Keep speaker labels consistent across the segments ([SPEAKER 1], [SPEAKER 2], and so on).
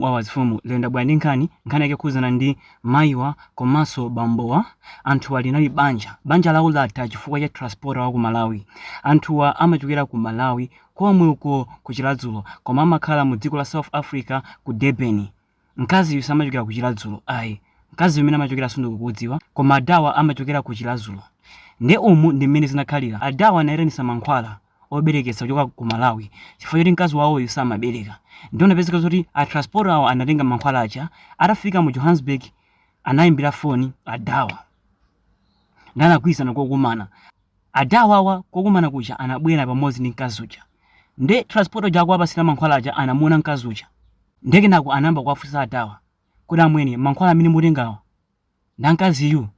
[SPEAKER 1] Wawa azifumu lero ndabwera ndi nkhani, nkhani yake yokhudzana ndi mayiwa komanso bambowa. Anthuwa linali banja. Banja lawo latha chifukwa cha transporter wa ku Malawi. Anthuwa amachokera ku Malawi komwe uko ku Chiladzulo koma amakhala mu dziko la South Africa ku Durban. Mkaziyu samachokera ku Chiladzulo ayi. Mkaziyu kumene amachokera sundikukudziwa koma adawa amachokera ku Chiladzulo. Nde umu ndi mmene zinakhalira. Adawa anaitanisa mankhwala. obereketsa kuchoka ku Malawi chifukwa choti mkazi wawoyu samabereka ndiye inapezeka zoti a transporter awo anatenga mankhwala aja atafika mu Johannesburg anayimbira foni adawa ndiye anagwirizana kokumana adawa awa kokumana kuja anabwera pamodzi ndi mkazi uja ndiye transporter uja akuwapasira mankhwala aja anamuona mkazi uja ndiye kenako anayamba kuwafunsa adawa kodi amwene mankhwala amene mutengawa nda mkaziyu?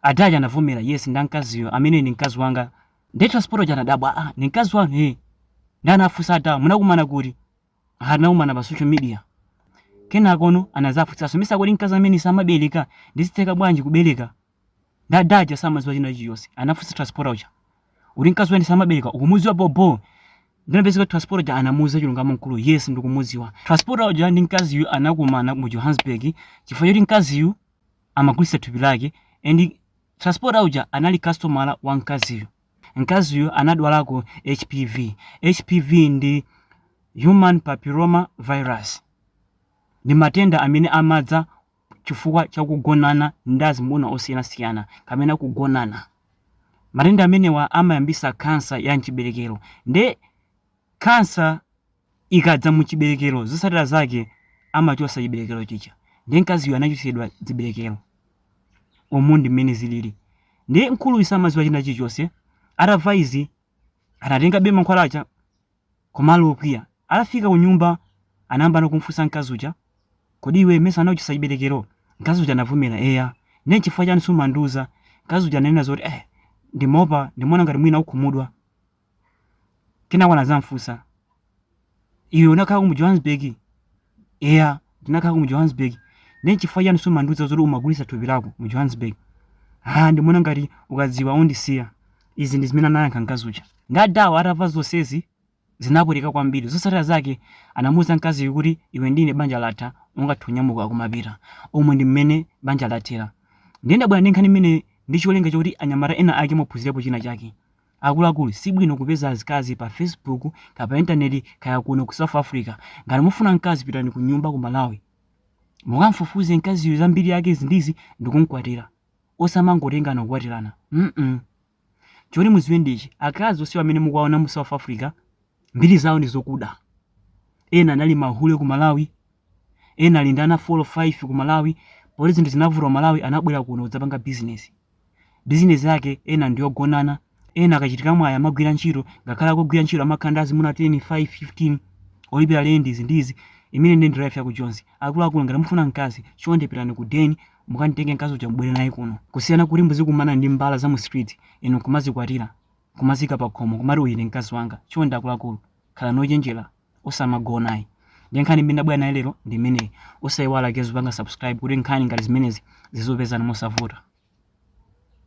[SPEAKER 1] Ada aja anavomera, yes, nda mkaziyo, amene ndi mkazi wanga. Nde transporter uja anadabwa, ah, ndi mkazi wanu, eh. Nde anafunsa adawa, munakumana kuti? Ah, tinakumana pa social media. Kenakono anazafunsanso, mesa kodi mkazi amene samabereka, nde zitheka bwanji kubereka? Nde ada aja samadziwa china chilichonse, anafunsa transporter uja. kuti mkazi amene samabereka ukumuziwa bobo nde inapezeka transporter uja anamuuza chilungamo mkuluyu yes ndikumuziwa transporter uja ndi mkaziyu anakumana mu johannesburg chifukwa choti mkaziyu amagulitsa thupi lake and transporter uja anali customer wa mkaziyu mkaziyu anadwalako hpv hpv ndi human papilloma virus ndi matenda amene amadza chifukwa cha kugonana ndi azimuna osiyanasiyana kapena kugonana. Matenda amenewa amayambitsa khansa ya m'chiberekero. Ndiye khansa ikadza mu chiberekero, zotsatira zake amachotsa chiberekero chija. Ndiye mkaziyo anachotsedwa chiberekero. Umu ndi mmene zilili. Ndiye mkuluyu samadziwa china chilichonse. Atamva izi, anatengabe mankhwala aja Koma ali okwiya. Atafika kunyumba, anayambano kumfunsa mkazi uja, Kodi iwe mesa anakuchotsa chibelekero? Mkazi uja anavomera, Eya. Ndiye nchifukwa chani sumandiuza? Mkazi uja ananena zoti, Eh, ndimaopa, ndimaona ngati mwina ukhumudwa. Kenako anazamfunsa, Iwe unakhalako mu Johannesburg? eya ndinakhalako mu johannesburg ndiye nchifukwa chiyani sumandiuza zoti umagulitsa thupi lako mu johannesburg ah ndimaona ngati ukadziwa undisiya izi ndi zimene anayankha mkazi uja nde adawa atamva zonsezi zinapweteka kwambiri zotsatira zake anamuuza mkaziyo kuti iwe ndi ine banja latha ungathe kunyamuka kumapita umu ndi mmene banja lathera ndiye ndabwera ndi nkhani imeneyi ndi cholinga chakuti anyamata ena ake muphunzirepo china chake Akuluakulu sibwino kupeza azikazi pa Facebook kaya pa internet kaya kuno ku South Africa. Ngati mufuna mkazi pitani kunyumba ku Malawi mukamfufuze mkaziyo za mbiri yake izi ndi izi ndikumkwatira. Osamangotengana kukwatirana mm choti muziwe ndi ichi akazi onsewa amene mukuwaona mu South Africa Mbiri zawo ndi zokuda. Ena anali mahule ku Malawi, ena ali ndi ana 4 or 5 ku Malawi. Poti zinthu zinavuta ku Malawi anabwera kuno kudzapanga bizinesi. Bizinesi yake ena ndi yogonana, ena akachita mwayi amagwira ntchito, ngakhale akugwira ntchito amakhala ndi azimuna 10, 5, 15 olipira lendi izi ndi izi. Imene ndiye ndi life ya ku Joni. Akuluakulu ngati mufuna mkazi, chonde pitani ku den mukamtenge mkazi uja mubwere naye kuno. Kusiyana kuti muzikumana ndi mbala za mu streets inu nkumazikwatira. kumazika pakhomo kumati uyu ndi mkazi wanga chonde akuluakulu khalani ochenjera osamagonayi ndi nkhani imene ndabwera nayo lero ndi imeneyi osayiwala guys kupanga subscribe kuti nkhani ngati zimenezi zizikupezani mosavuta